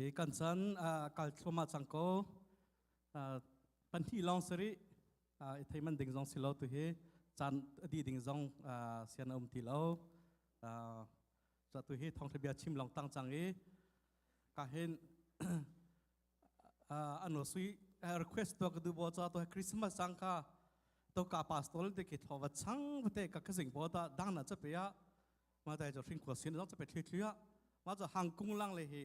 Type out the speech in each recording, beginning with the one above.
hi kan chan kal thluahmah cang ko pahnih lawng sari i theiman ding zong si lo tu hi caan di ding zong sian a um ti lo cho tu hi thong bia chim long tang chang i ka hin ano sui request to ka du bo cha to christmas sang ka to ka pastor te ki tho wa chang te ka ka sing bo ta dang na cha pe ya ma tai jo hring ko sin zong cha pe thli thli ya ma jo hang kung lang le hi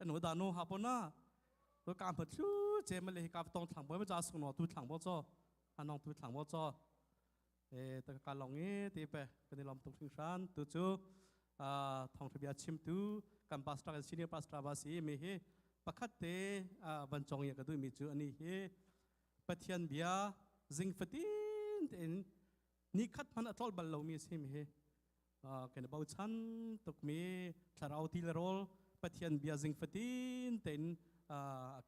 anu da nu ha pona to ka ma thlu che ma le ka tong thlang bo ma ja su no tu thlang bo cho anong tu thlang bo cho e ta ka long e te pe kan lom tung thing shan tu chu a thong thibia chim tu kan pastor senior pastor ba si mi hi pakhat te van chong ya ka du mi chu ani hi pathian bia zing fatin te in ni khat man atrol bal lo mi sim hi kan bochan tukmi thlarau ti le rawl pathian bia zing fatin tein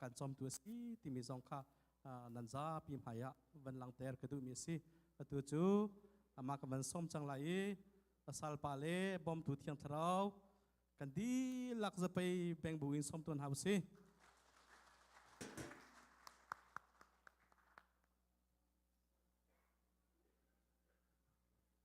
kan chomtu a si timi zong kha nan zapi hmaiah van lang ter ka duhmi a si atu cu amah ka van som cang lai i salpa le bawmtu thiang thlarau kan dihlak zapei beng bu in som tuan hau si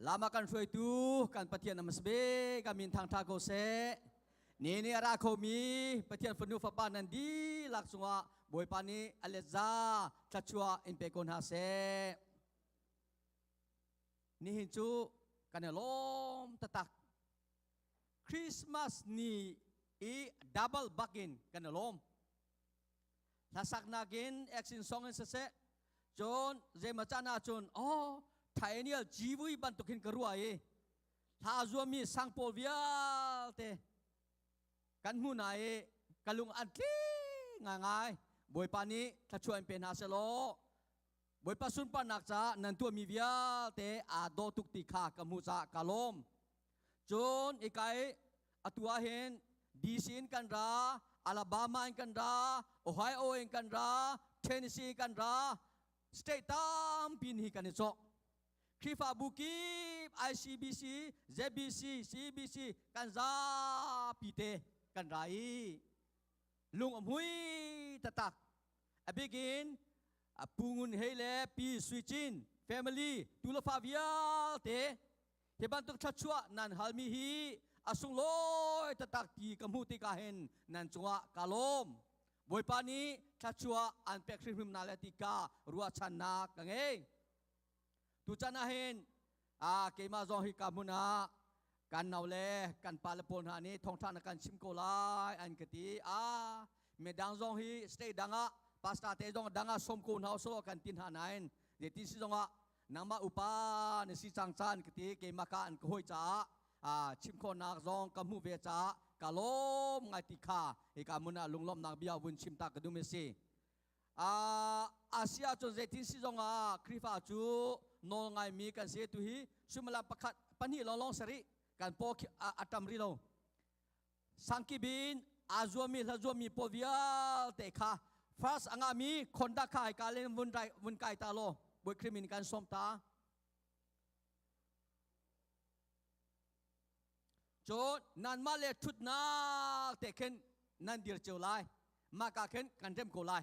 lama kan hruaitu kan pathian amas be ka min thang tha ko se ni ni ra kho mi pathian fanu fapa nan di lak chungah bawipa nih alet za thlachua in pe ko hna se nihin cu kan i lawm tatak Christmas ni i double bakin kan i lawm hlasak nakin action song in siseh cun zeimachan ahcun oh thainial gvui bantuk hin ka rua i hla zuami sang pawl vialte kan hmu na i ka lung an tli ngai bawipa nih thlachuan pe hna selaw bawipa sunparnak ca nan tuahmi vialte aa daw tuk ti kha ka hmuh ca ka lawm Cun ikai atu ah hin DC in kan ra, Alabama in kan ra, Ohio in kan ra, Tennessee in kan ra, state tampi hi kan i cawk. Khrihfabu kip ICBC, ZBC, CBC kan zapi te kan ra i lung a mui tatak. A bikin a pu ngun hei le pi sui cin family tu le fa vialte Hi bantuk thluachuah nan halmi hi a sunglawi taktak ti ka hmuh tikah hin nan cungah ka lawm. Bawipa nih thluachuah an pek hrimhrim na le tika ruahchannak ka ngei. Tuchan ah hin a keimah zong hi ka hmun ah kan nau le kan pa le pawl hna nih thawngṭha na kan chim ko lai an ka ti. A midang zong hi state dang ah pastor te zong dang ah sawm ko hna usih kan tin hna nain zeiti si zongah nangmah upa na si cang caan ka ti keimah ka an ka hoi caah ah chim khawnak zong ka hmuh ve caah ka lawm ngai ti kha e ka mun ah lunglawmnak bia vun chim ta ka dum e si ah asia cun zeitin si zong ah khrifa cu nawl ngai mi kan si tu hi sumala pakhat pahnih lawng lawng sari kan po atam ri lo sangkip in aa zuammi hla zuammi paw vialte kha first angami khonda kha hai ka le vun dai vun kai ta law boi krimin kan som ta cho nan ma le thut na te khen nan dir cheu lai ma ka khen kan rem ko lai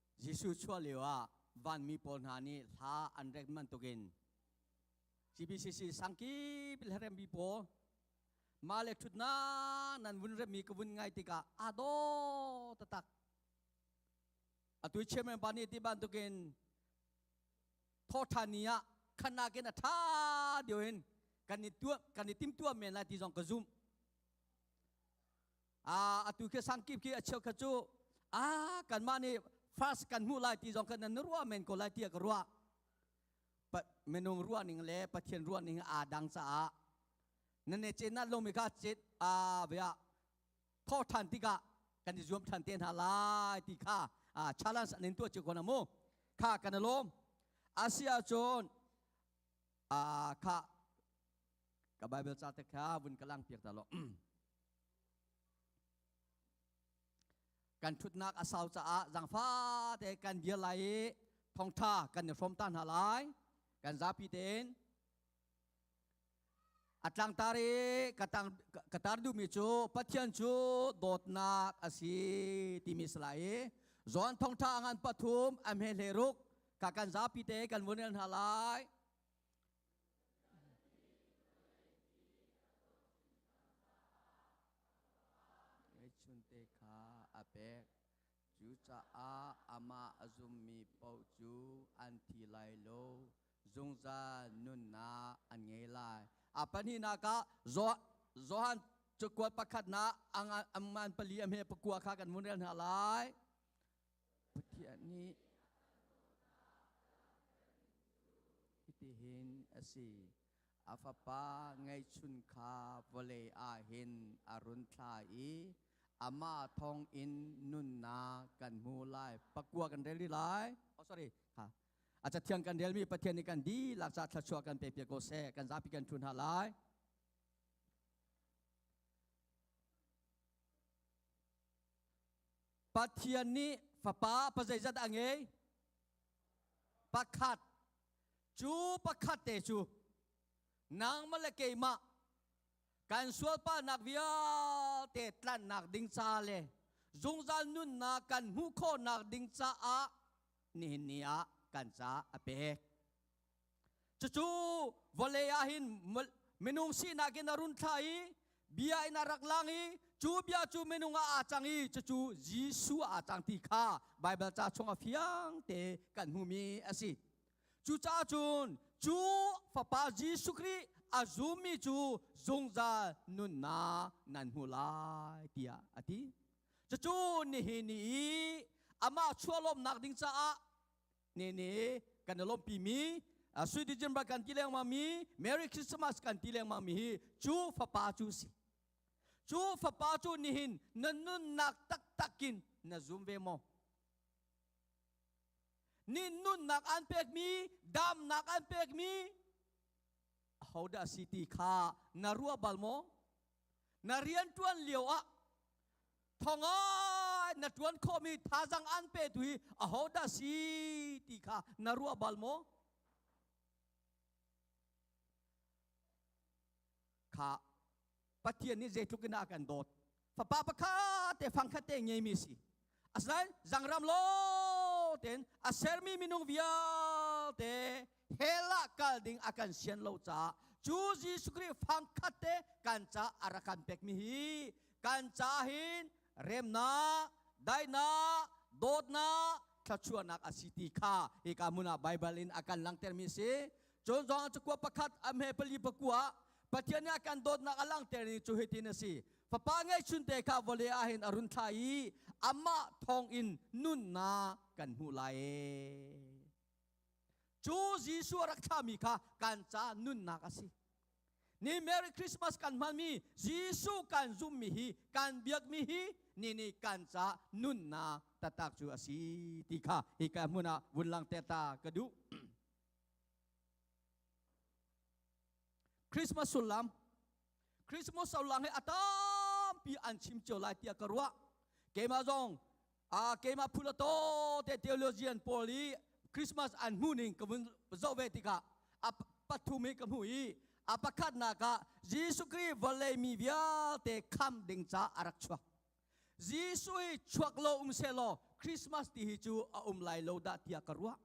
Jesuh chuah lioah vanmi pawl hna nih hla an rek bantukin CBCC sangkip le remmi pawl male ṭhutnak nan vun remmi ka vun ngai tikah aa daw taktak. Atu chairman pa nih ti bantukin thawṭha ni ah khan nakin a ṭha deuh in kan i tuah kan i timtuah men lai ti zong ka zumh. a atu khi sang kip khi a cheu kha cu a kanmah nih first kan hmuh lai ti zong khan nan ruah men ko lai tiah ka ruah minung ruahning le pathian ruahning aa dang caah nan i cin ah lawmi ka cit a bia tho ṭhan tikah kan i zuam ṭhan te hna lai ti kha challenge an in tuah cu kon mu kha kan lawm asia cun kha ka bible ca te kha vun ka lang piak ta lo kan ṭhutnak a sau caah zangfate kan dir lai i thongṭha kan i hrom ta hna lai kan zapi tein a tlangtar i ka, tang, ka tar duhmi cu pathian cu dawtnak a si timi si lai i John thongṭha ngan pathum a hme hle ruk ka kan zapi te kan vun rel hna lai Ngeihchunte kha a pek. Cucaah amah a zummi paoh cu an thi lai lo. Zungzal nunnak an ngei lai. A pahnihnak ah Johan cakuat pakhatnak angan pali a hme pakua kha kan hmun rel hna lai. Pathian nih hitihin a si, a fapa ngeihchun kha vawlei ah hin a run thlah i amah thawngin nunnak kan hmu lai. Pakua kan rel rih lai. Oh sorry. Ha. A cathiang kan relmi Pathian nih kan dihlak ca thluachuah kan pe piak ko seh. Kan zapi kan ṭhu hna lai. Pathian nih fapa pa zeizat a ngei? Pakhat. Cu pakhat te cu nangmah le keimah kan sualpahnak vialte tlanhnak ding ca le zungzal nunnak kan hmuh khawhnak ding caah nihin ni ah kan ca a pek. cucu vale ah hin minung sinak in a run thla i bia in a rak lang i cu bia cu minung ah aa cang i cucu Jesu aa cang ti kha Baibal ca chung a fiang te kan hmumi a si cucaah cun cu fapa Jesuh Khrih a zummi cu zungzal nunnak nan hmu lai tiah a ti cucu nihin ni i amah chuahlawmnak ding caah ne ne kan lawmpi mi sui dijin ba kan ti lengmang mi Merry Christmas kan ti lengmang mi hi cu fapa cu si cu fapa cu nihin na nunnak taktakin na zum ve maw nih nunnak an pek mi damnak an pek mi ahodah si ti kha na ruah bal maw na rian tuan lio ah thonga na tuan khomi thazang an pe tu hi ahodah si ti kha na ruah bal maw kha pathian nih zeitluk in a kan dawt fapa pakhat te fangkhat te ngeimi si asinain zangram lo ten a sermi minung vialte hell ah kal ding a kan sian lo caah cu Jesuh Khrih fangkhat te kan ca a rak kan pekmi hi kan ca hin remnak daihnak dawtnak thlachuahnak a si ti kha hika hmun ah Baibal in a kan langtermi a si cun zong cu kua pakhat a hme pali pakua Pathian nih a kan dawtnak a langter ni cu hitin a si fapa ngeihchunte kha vawle ah hin a run thla i amah thawng in nunnak kan hmuh lai Cu Jesuh a rak thlahmi kha kan ca nunnak a si. Ni Merry Christmas kan hmanmi Jesuh kan zummi hi kan biakmi hi ni nih kan ca nunnak taktak cu a si ti kha hika hmun ah vun langter ta ka duh. Christmas sullam Christmas lang he atampi an chim cio lai tiah ka ruah keimah zong a keimah phula to te theologian pawl i Christmas an hmu ning ka vun zoh ve tikah a pathum hi ka hmu i a pakhatnak ah Jesuh Khrih vawlei mi vialte kham ding ca a rak chuak Jesuh hi chuak lo um se law Christmas ti hi cu a um lai lo dah tiah ka ruah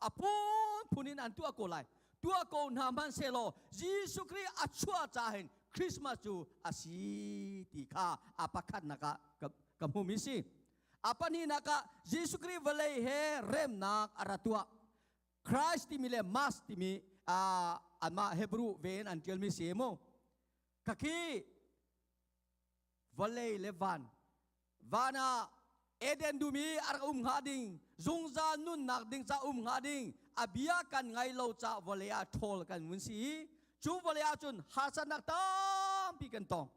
a phunphun in an tuah ko lai tuah ko hna hman selaw Jesuh Khrih a chuah ca hin Christmas cu a si ti kha a pakhatnak ah ka hmumi si a pahnihnak ah Jesuh Khrih vawlei he remnak a ra tuah Christ timi le Mas timi anmah Hebrew ven an tialmi si mu khakhi vale le van van ah eden dum i a rak um hnga ding zungzal nunnak ding ca um hnga ding a bia kan ngai lo ca vale ah ṭhawl kan vun si i cu vale ah cun hasannak tampi kan tong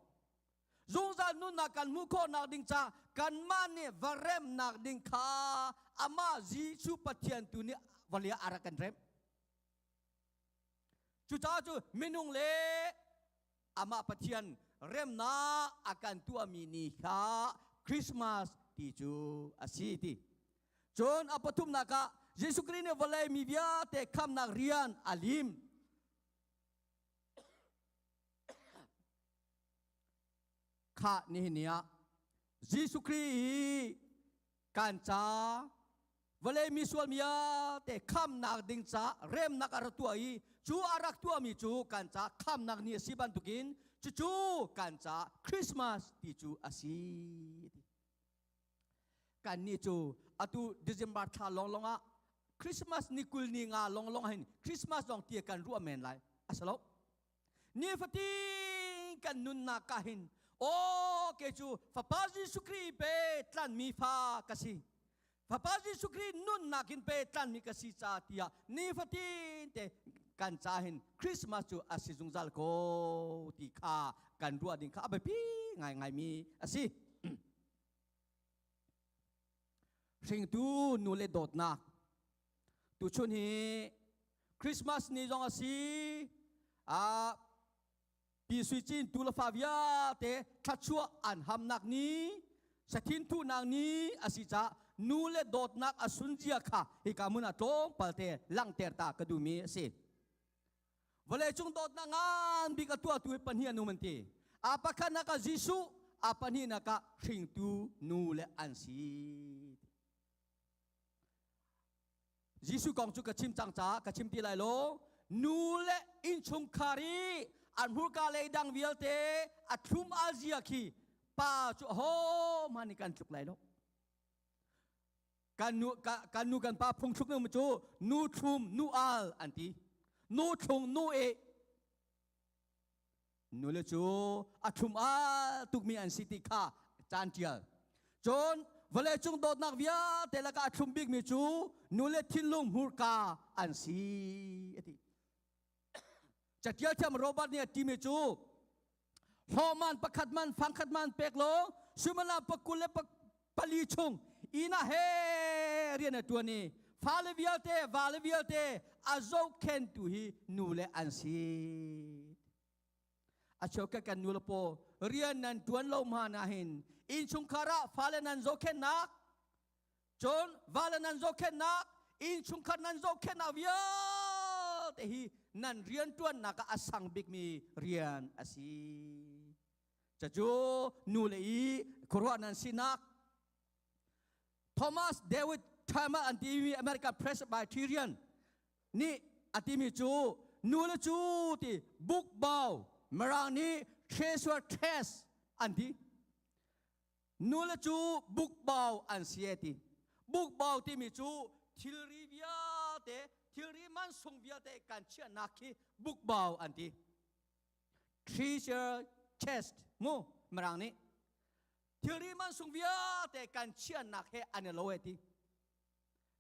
zungzal nunnak kan hmuh khawhnak ding ca kanmah nih va remnak ding kha amah Jesuh Pathian tu nih vale ah a rak kan rem cucaah cu minung le amah Pathian remnak a kan tuahmi ni kha Christmas ti cu a si ti. Cun a pathumnak ah Jesuh Khrih nih vawlei mi vialte khamnak rian a lim. Kha nihin ni ah Jesuh Khrih hi kan ca vale misual mia te khamnak ding ca remnak a rak tuah i cu a rak tuahmi cu kan ca khamnak ni a si bantukin cucu kan ca Christmas ti cu a si kan ni cu atu December thla long long ah Christmas ni kul ni nga long long hin Christmas long tia kan ruah men lai a salo nifatin kan nunnak ka hin aw ke cu fapa Jesuh Khrih pe tlanmi fa ka si fapa Jesuh Khrih nunnak in pe tlanmi ka si ca tiah nifatin te kan ca hin Christmas cu a si zungzal ko ti kha kan ruah ding kha a biapi ngai ngaimi a si hringtu nu le dawtnak Tuchun hi Christmas ni zong a si ah Pi Sui Cin tu le fa vialte thluachuah an hamnak ni sathin thuhnak ni a si ca nu le dawtnak a sunzia kha hika mun a tlawm palte langter ta ka duhmi a si vawleicung dawtnak ngan bik a tuahtu hi pahnih an um an ti a pakhat nak ah Jesuh a pahnih nak ah hringtu nu le an si Jesuh kong cu ka chim cang ca ka chim ti lai lo nu le innchungkhar i an hmurka lei dang vialte a thlum alzia khi pa cu hohmanh nih kan tluk lai lo kan nu kan nu kan pa phungthluk nu cu nu thlum nu al an ti nu thlung nu e nule cu a ṭhum al tukmi an si ti kha caan ṭial cun vawleicung dawtnak vialte lakah a thlum bikmi cu nule thinlung hmurka an si a ti catial thiam Robert nih a timi cu hlawman pakhat man fangkhat man pek law suimala pakul le pali chung ina he rian a tuan i fale vialte vale vialte a zohkhen tu hi nu le an si acheu ka kan nu lapo rian nan tuan lo ma na hin inchungkhar ah fale nan zohkhennak cun vale nan zohkhennak inchungkhar nan zohkhennak vialte hi nan rian tuannak ah a sang bikmi rian a si cacu nu le i khuaruah nan sinak Thomas David Tama an timi American Presbyterian nih a timi cu nu le cu ti book bao marang ni treasure trash an ti nu le cu book bao an si ti book bao timi cu thilri vialte thilri mansung vialte kan chiah nak khi book bao an ti treasure chest mu mirang nih thilri mansung vialte kan chiannak he an i lo he ti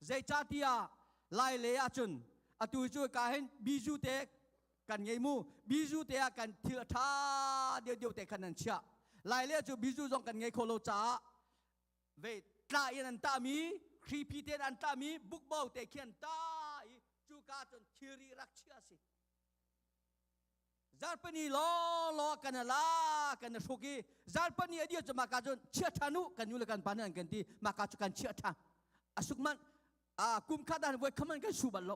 zeicahtiah lai le ahcun atu cu ka hin biju te kan ngei mu biju te ah kan thil ṭha deu deu te khan an chiah lai le cu biju zong kan ngei kho lo caah ve tla in an tahmi khripi te an tahmi bukbo te khi an tah i cuka cun thilri rak chia a si zarpani lawlaw kan la kan hruk i zarpani adir cu maka cun chia ṭhan u kan nu le kan pa nih an kan ti maka cu kan chia ṭhan asuk man a kum khat dan voi khaman kan su bal lo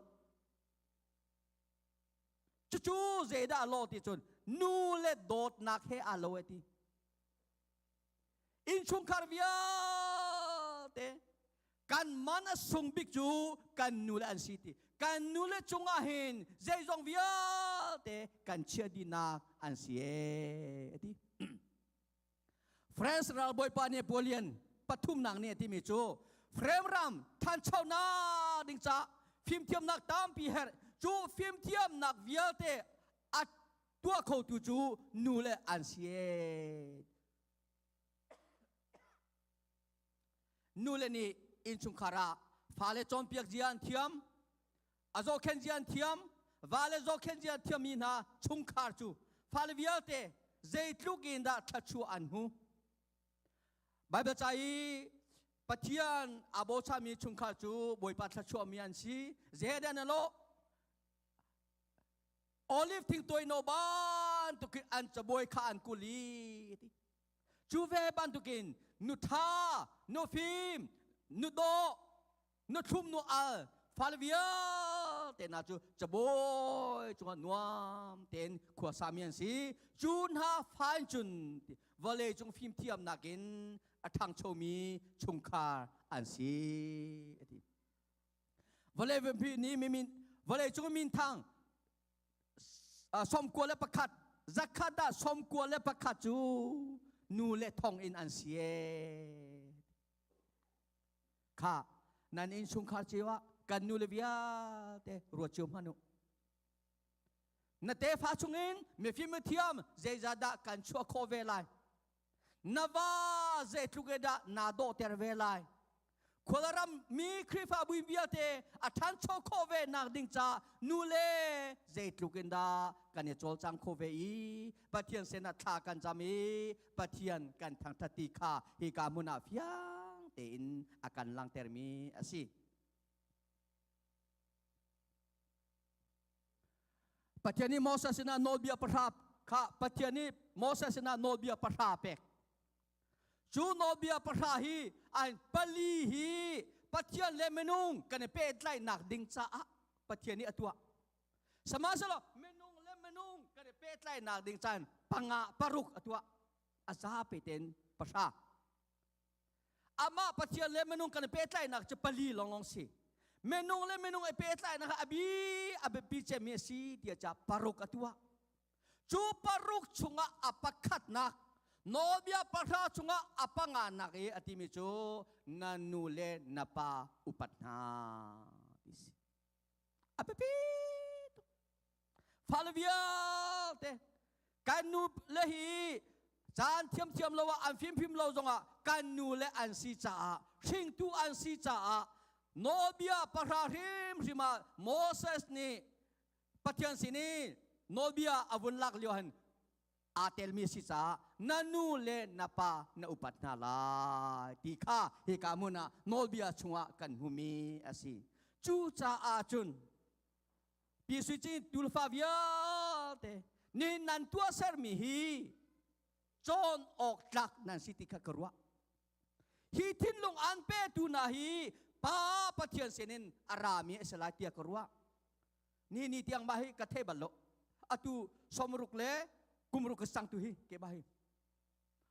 cucu zeidah lo ti cun nu le dawtnak he aa lo ti innchungkhar vialte kan man a sung bik cu kan nule an si ti kan nule cungah hin zeizong vialte kan chia dinak an si e ti France ralbawipa Napoleon pathumnak ni timi cu frame ram thanchonak ding ca fimthiamnak tampi her cu fimthiamnak vialte a tuah khotu cu nu le an si nu le nih innchungkhar ah fale cawnpiak zia an thiam a zohkhen zia an thiam vale zohkhen zia thiammi hna chungkhar cu fale vialte zeitluk in dah thluachuah an hmu Bible ca i Pathian a bochami chungkhar cu Bawipa thluachuahmi an si Zehedan alo olive thingtuai no bantukin an cabuai kha an kuli ti cu ve bantukin nu tha nu fim nu do nu thlum nu al fal vialte na cu cabawi cungah nuam ten khua sami an si cu hna fain cun vale cung fim thiam nakin a ṭhangchomi chungkhar an si ati vale vempi ni mimin vale cung min thang sawmkua le pakhat zakhat dah sawmkua le pakhat cu nu le thong in an si kha nan in sungkhar cewa kan nu le vialte ruat cio manu na tefa chungin mifim thiam zeizadah kan chuah kho ve lai na va zeitluk e dah naa dawhter ve lai khualaram mi khrifabu vialte a ṭhancho khawh ve nak ding ca nu le zeitluk in dah kan i cawlcang khawh ve i pathian sen ah thla kan cam i pathian kan thangthati kha hi ka hmun ah fiang tein a kan langtermi a si Pathian nih Moses sinah nawlbia pahra kha Pathian nih Moses sinah nawlbia pahra pek. Cu nawlbia pahra hi ai pali hi Pathian le minung kan i pehtlainak ding caah Pathian nih a tuah. Sihmanhsehlaw minung le minung kan i pehtlainak ding caan panga paruk a tuah. A zapi tein pahra. Amah Pathian le minung kan i pehtlainak cu pali lawng si. Minung le minung i pehtlainak a bi a biapi cemmi a si tiah ca paruk a tuah. Cu paruk chungah a pakhatnak nawlbia pahra chungah a panganak i a timi cu na nu le na pa upat hna ti si. A biapi fale vialte kan nu le hi caan thiamthiam lo ah an fimfim lo zongah kan nu le an si caah hringtu an si caah nawlbia pahra hrimhrim ah Moses nih Pathian sin i nawlbia a vun lak lio han aa telmi si caah na nu le na pa na upat hna lai ti kha hika mun ah nawlbia chungah kan hmumi a si cu caah cun Pi Sui Cin tulfa vialte nih nan tuah sermi hi cawn awk tlak nan si ti kha ka ruah. Hi thinlung an petu hna hi Pa Pathian sinin a rami a si lai tiah ka ruah. Ni ni tiang ma hi ka the bal lo. Atu somruk le kumruk ka sang tu hi ke ba hi.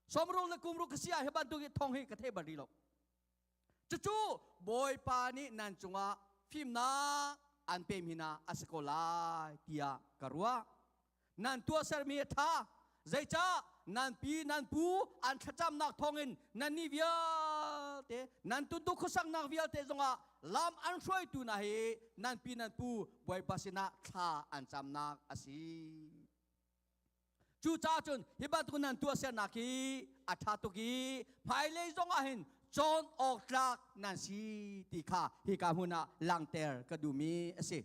Somruk le kumruk ka sia hi bantuk hi thong hi ka the bal rih lo. cucu bawipa nih nan cungah fimnak an pem hina a si ko lai tiah ka ruah nan tuahsermi a ṭha zeicah nan pi nan pu an thlacamnak thawngin nannih vialte nan tuntu khuasaknak vialte zongah lam an hruaitu hna hi nan pi nan pu bawipa sinah thla an camnak a si Cucaah cun hi bantuk nan tuahsernak hi a ṭha tuk i hmailei zongah hin cawn awk tlak nan si ti kha hika hmun ah langter ka duhmi a si.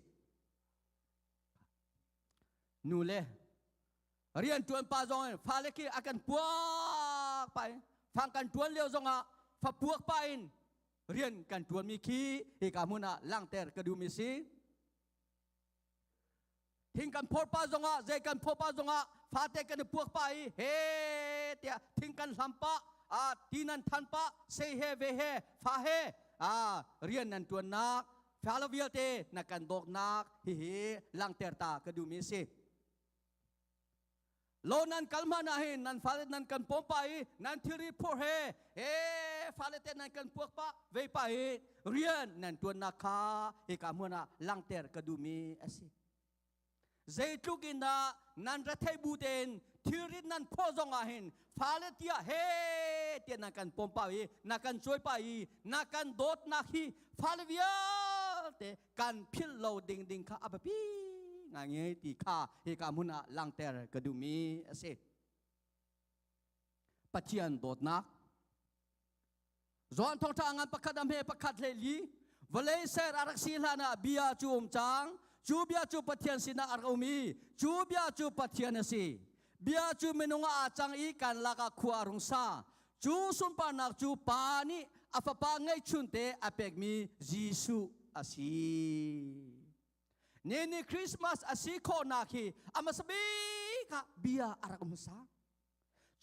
Nu le rian ṭuan pa zong in fale khi a kan puak pa in fang kan ṭuan lio zongah fa puak pa in rian kan ṭuanmi khi hika hmun ah langter ka duhmi si. thing kan phawr pa zongah zei kan phawr pa zongah fate kan i puak pa i he tiah thing kan hlam pa a ti nan than pa sei he ve he fa he a rian nan tuannak fa lo vialte na kan dawknak hi hi langter ta ka duhmi si lo nan kal hmanh ah hin nan fale nan kan pawm pah i nan thilri phurh he he fale te nan kan puak pah ve pah i rian nan tuannak kha hika hmun ah langter ka duhmi asi zeitluk in dah nan retheih bu tein thilrit nan phaw zong ah hin fale tia he te na kan pom pa i na kan choi pa i na kan dawtnak hi fale vialte kan philh lo ding ding kha a biapi ngai nge ti kha hi ka mun ah langter ka dumi a si pathian dawtnak Joan thong tha ngan pakhat am he pakhat le li vale ser arak si hlan ah bia cu um chang cu bia cu pathian sinah ar um i cu bia cu pathian a si bia cu minung a cang i kan lak ah khua rung sa Cu sunparnak cu Pa nih a Fapa ngeihchunte a pekmi Jesuh a si. Ni ni Christmas a si khawhnak hi a hmasa bik ah bia a rak um sa.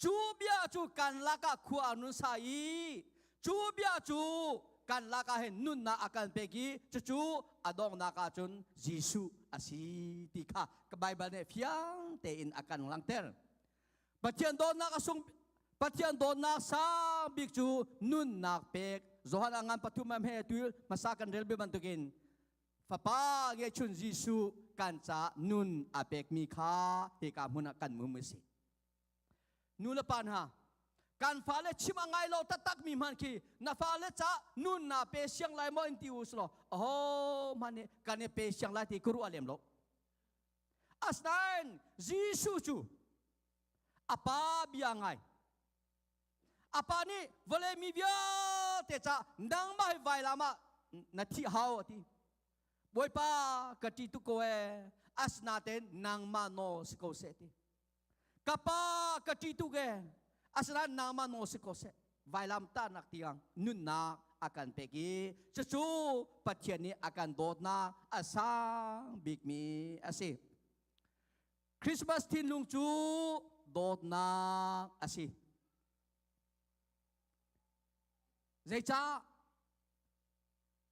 Cu bia cu kan lakah khua a nun sa i cu bia cu kan lakah hin nunnak a kan pek i cucu a donghnak ah cun Jesuh a si ti kha Bible nih fiang tein a kan langhter. Pathian dawtnak a sung Pathian dawtnak sang bik cu nunnak pek Johan a ngan pathum am he tu hmasa kan rel be bantukin fapa ngechun Jesuh kan ca nun a pekmi kha hika hmun ah kan mum a si nu le pa hna kan fale chim a ngai lo taktak mi hman khi na fale ca nun na pe siang lai maw in ti u slo aho man nih kan i pe siang lai ti kuru a lem lo Asinain Jesuh cu a pa bia ngai. A pa nih vale mi vialte ca nangmah hi vai lam ah na thih hau a ti. Bawipa ka ṭi tuk ko ee, asinain nangmah nawl si ko seh ti. ka pa ka ṭi tu ge asinain nama no si ko seh vailam tahnak tiang nunnak akan pek i cucu pathian nih akan dawtnak a sang bikmi asi Christmas thinlung cu dawtnak asi zeicah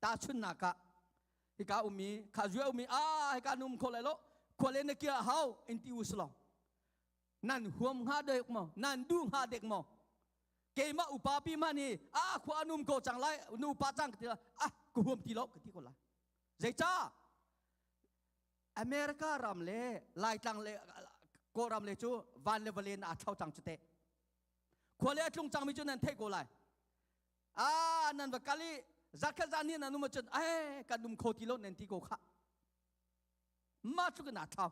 tahchunnak ah hika umi kha zue umi a hika num kho lai lo khole na kia hau in ti uslong nan huam nga dek mo nan du nga dek mo keima upa pi ma ni a khwa num ko chang lai nu pa chang ti ah ku huam ti lo ka ti ko la zeicha america ram le laitlang le ko ram le chu van le valen a thau chang chute khole tlung chang mi chu nan thei ko lai ah nan va kal i zakhat zan hi nan um ahcun ai kan um kho ti lo nan ti ko kha mah cu kan thau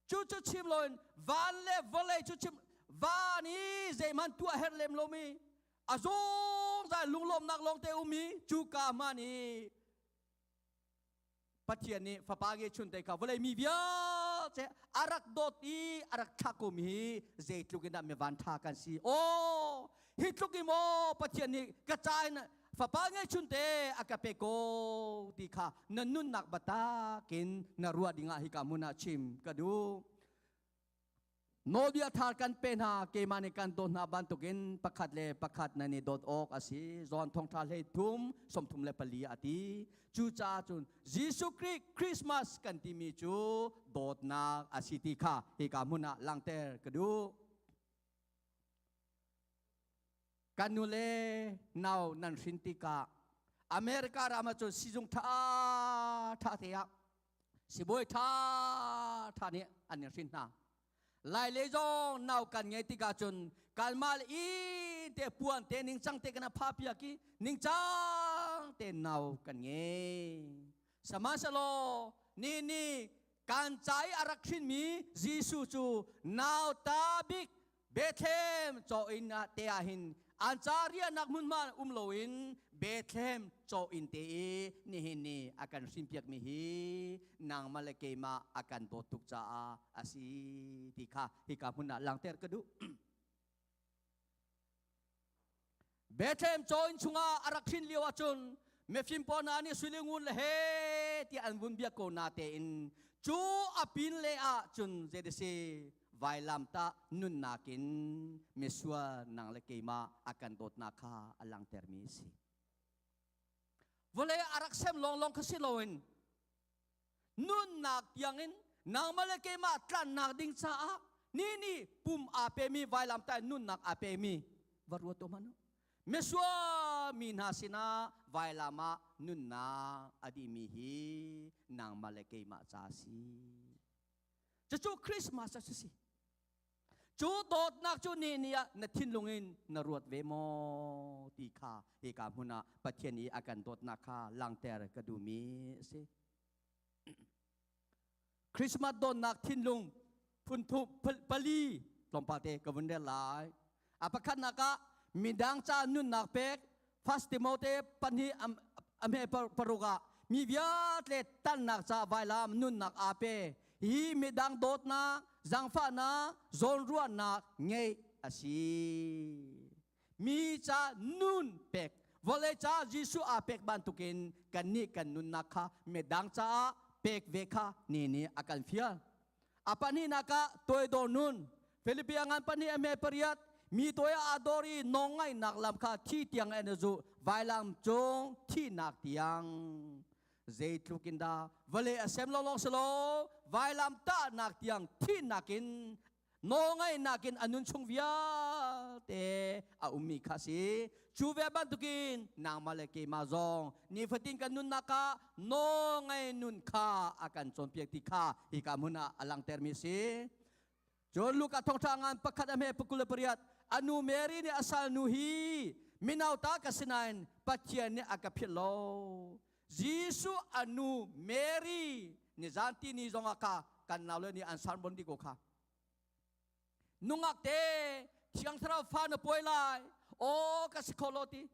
cu cu chim loin van le vawlei cu chim van i zeihman tuah her lem lomi azawng za lunglawmnak lawngte umi cu ka man i Pathian nih fapa ge chun te ka vawlei mi vialte arak dawt i arak thlakum hi zeitluk in dah mi van tha kan si o hi tluk in maw Pathian nih ka ca in fapa nge chun te a ka pe ko ti kha na nunnak batakin na ruah dingah hi ka mun ah chim ka duh Nawlbia thar kan pe hna keimah nih kan dawt hna bantukin pakhat le pakhat nan i dawt awk a si. John thongtha hlei thum sawmthum le pali a ti. Cu caah cun Jesuh Khrih Christmas kan timi cu dawtnak a si ti kha hika hmun ah langter ka duh. Kan nule nau nan hrin tikah America ram ah cun sizung tha tha te ah sibawi ṭha ṭha nih an i hrin hna lai le zong nau kan ngei tikah cun kalma le in te puan te ningcang te kana pha piak i ningcang te nau kan ngei sahmanhsehlaw ni ni kan cai a rak hrinmi Jesuh cu nauta bik Bethlehem chaw in ah te ah hin an ca riahnak hmunhma um loin Bethlehem chaw in te i nihin ni a kan hrimpiak mi hi nangmah le keimah a kan dawt tuk caah a si ti kha hika hmun ah langter ka duh Bethlehem chaw inn chungah a rak hrin lio ahcun mifim pawl hna nih suili ngun le he tiah an vun biak ko na tein cu a pin le ah cun zeidasi vailam tah nunnak in misual nang le keimah a kan dawtnak kha a langtermi si vawlei a rak sem lawnglawng kha si loin nunnak tiangin nangmah le keimah tlannak ding caah ni ni pum aa pemi vailam ta nunnak aa pemi va ruat um hanu misual mi hna sinah vailam ah nunnak a dimi hi nangmah le keimah ca a si cucu Christmas a si si Cu dawtnak cu ni ni ah na thinlung in na ruat ve maw ti kha hika hmun ah Pathian i a kan dawtnak kha langter ka duhmi a si. Christmas dawnnak thinlung phunthup pali tlawmpal te ka vun rel lai. A pakhatnak ah midang ca nunnak pek First Timote pahnih ame paruk ah mi viatle tannak ca vailam nunnak ape hi midang dawtnak zangfahnak zawnruahnak ngei asi mi ca nun pek vawlei ca Jesuh a pek bantukin kan nih kan nunnak kha midang caah pek ve kha ni ni a kan fial a pahnihnak ah toidor nun Philippia ngan pahnih a me pariat mi toy a dor i nong ngainak lam kha thi tiang en a zu vailam cung thihnak tiang zeitluk in dah vale a sem lawlawng si lo vailam tahnak tiang thihnak in nawlngaihnak in a nun chung vialte a ummi kha si Cu ve bantukin nangmah le keimah zong nifatin kan nunnak ah nawl ngei nun kha a kan cawnpiak ti kha hika hmun ah a langtermi a si. Cun Luka thawngṭha ngan pakhat a hme pakul le pariat a nu Mary nih a salnu hi mino ta ka si nain Pathian nih a ka philh lo. Jesuh a nu Mary ni zan tini zongah ka kan nau le nih an san bon ti ko kha nungak te thiang thlarau fa na pawi lai aw ka si kho lo ti